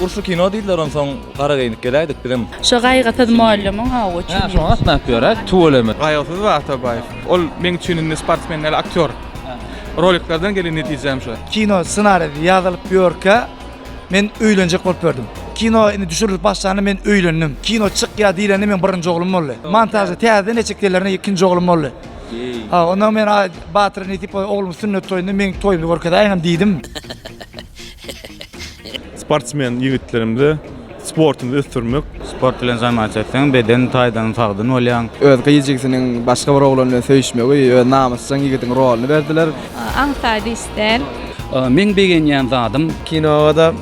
Urşy kino diýdiler onsoň gara geýinip geläýdik bizem. Şo gaýgysyz mugallymyň hawa üçin. Ha, şoňa gatnap ýöräs, tüweleme. Gaýgysyz we Atabaýew. Ol meň üçin indi sportsmen däl, aktýor. Roliklerden gelen netijäm şo. Kino ssenarisi ýazylyp ýörkä, Men öýlenjek bolup ýördüm. Kino indi düşürilip başlanda men öýlendim. Kino çykýar diýlende meň birinji oglum boldy. Montažda täzeden eşik gelerine ikinji oglum boldy. Ha, ondan men aý, Batyr nesip bolsa oglumy sünnet toýunda meň toýumda görkezäýiňem diýdim. Sportsmen ýigitlerimize Sportuňy ösdürmek. Sport bilen zanmat etseň, beden taýdan sagdyn bolýaň. Öz gyz-jigisiniň başga bir oglan bilen söýüşmegi öz namysjaň ýigidiň rolyny berdiler. Aňsat iş däl. Meň begenýän zadym. Kinoda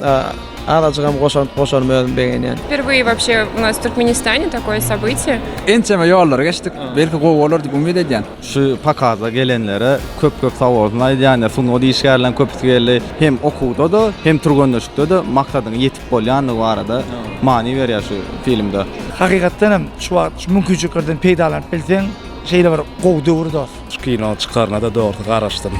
azajygam goşant goşarym özüm begenýän. Wperwıye wapşe u nas Türkmenistane takoye sobytiye. Ençeme ýollary geçdik. Belki gowy bolar diýip umyt edýän. Şu pokaza gelenlere köp köp sag bolsun aýdýan ýa sungat işgärleriň köpüsi geldi. Hem okuwda-da hem türgenleşikde-de maksadyňa ýetipsiň. bolýandygy barada many berýär şu filmde. Hakykatdan hem şu wagt şu mümkinçiliklerden peýdalanyp bilseň şeýle bir gowy döwür dos. Şu kino çykaryna-da dogrusu garaşdym.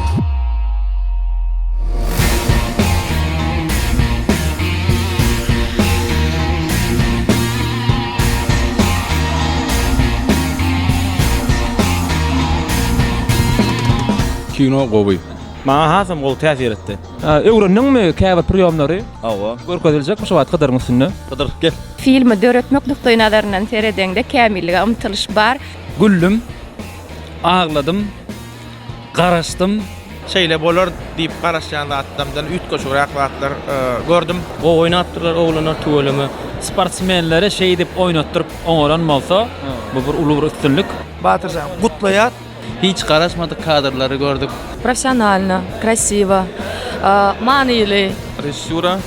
Kino gowy. Maňa hasam gowy täsir etdi. Öwrendiňmi käbir priýomlary? Hawa. Görkeziljekmi şu wagt Hydyryň üstünde? Hydyr, gel. Filmi döretmek nukdaýnazaryndan seredeňde kämillige ymtylyş bar. Güldüm, agladym, garaşdym. Şeýle bolar diýip garaşýan zatlarymdan üýtgeşigräk zatlar gördüm. Gowy oýnapdyrlar oglanlar tüweleme. Sportsmenleri şeýdip oýnatdyryp oňaran bolsa, bu bir uly bir üstünlik. Batyrjan, gutlaýas! Hiç garaşmadyk kadrlary gördük. Professionalno, krasiwo, manyly. Režissura,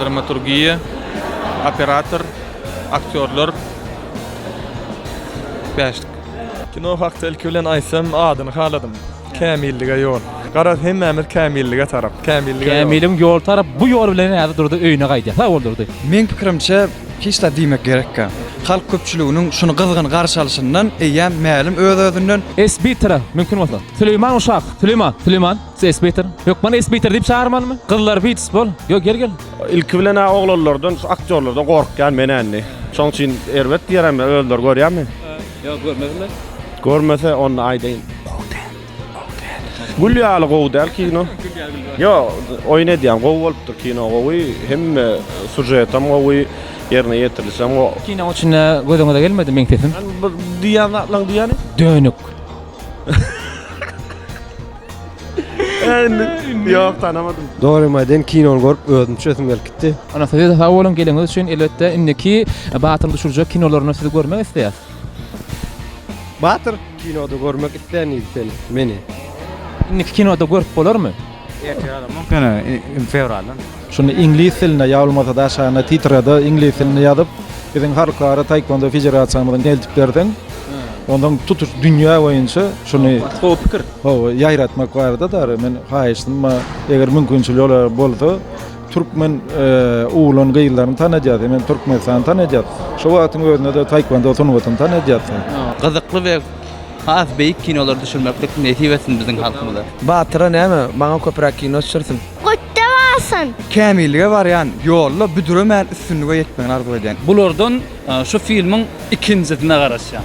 dramaturgiýa, operator, aktýorlar. Bäşlik. Kino hakda ilki bilen aýtsam adyny haladym. Kämillige ýol. Garaz hemmämiz kämillige tarap. Kämillige ýol. Kämiligiň ýoly tarap bu ýol bilen häzir Durdy öýüne gaýdýar. Sag bol Durdy. Meň pikirimçe Hiç zat diýmek gerekkä. Halk köpçüliginiň şuny gyzgyn garşy alyşyndan eýýäm mälim öz-özünden. S. Bitre, mümkin bolsa. Süleýman uşak, Süleýman, Süleýman, S. Bitre. Ýok, many S. Bitre diýip çagyrmalymy? Gyzlar Wits, bol. Ýok, gel, gel. Ilki bilen-ä oglanlardan, şu aktýorlardan gorkýan men indi. Şoň üçin erbet diýerem, özleri görýärmi? Ýok, görmesinler. Görmese, onda aýdaýyn. Gowy däl. Gül ýaly gowy däl kino. Yo, oýun edýän gowy bolupdyr kino gowy, hemme sujet hem gowy, ýerine ýetirlişi hem gowy. Kinoň içinde gözüňize gelmedi meň sesim? Sen bu diýýän zatlaň diýýäni? Dönük. Ýok, tanamadym. Dogrymy aýdaýyn, kinony görüp özüm çüýesim gelip gitdi. Ana size-de sag boluň geliňiz üçin elbetde indiki Batyryň düşürjek kinolaryny sizi görmek isleýäs. Batyr kinoda görmek istäniz sen meni. Indiki kinoda görüp bolarmy. Ertir ýa-da mümkin fewraldan. Şunda iňlis dilinde ýa bolmasa da aşagynda titrada iňlis dilinde ýazyp biziň halkara taekwondo federasiýamyza eltip berseň ondan tutuş dünýä boýunça şuny gowy pikir. Hawa ýaýratmak barada da men haýyştym eger mümkinçiligi bolsa Türkmen oglan-gyzlaryny tanadýas, hemem Türkmenistany tanadýas. Şo wagtyň özünde-de taekwondo sungatyny tanadýas. Gyzykly we has beýik kinolar düşürmeklik nesip etsin biziň halkymyza. Batyra näme, maňa köpüräk kino düşürsin. Götde barsyn! Kämillige barýan ýolda büdremäni üstünlige ýetmegini arzuw edýän. Bulardan şu filmiň ikinjisine garaşýan.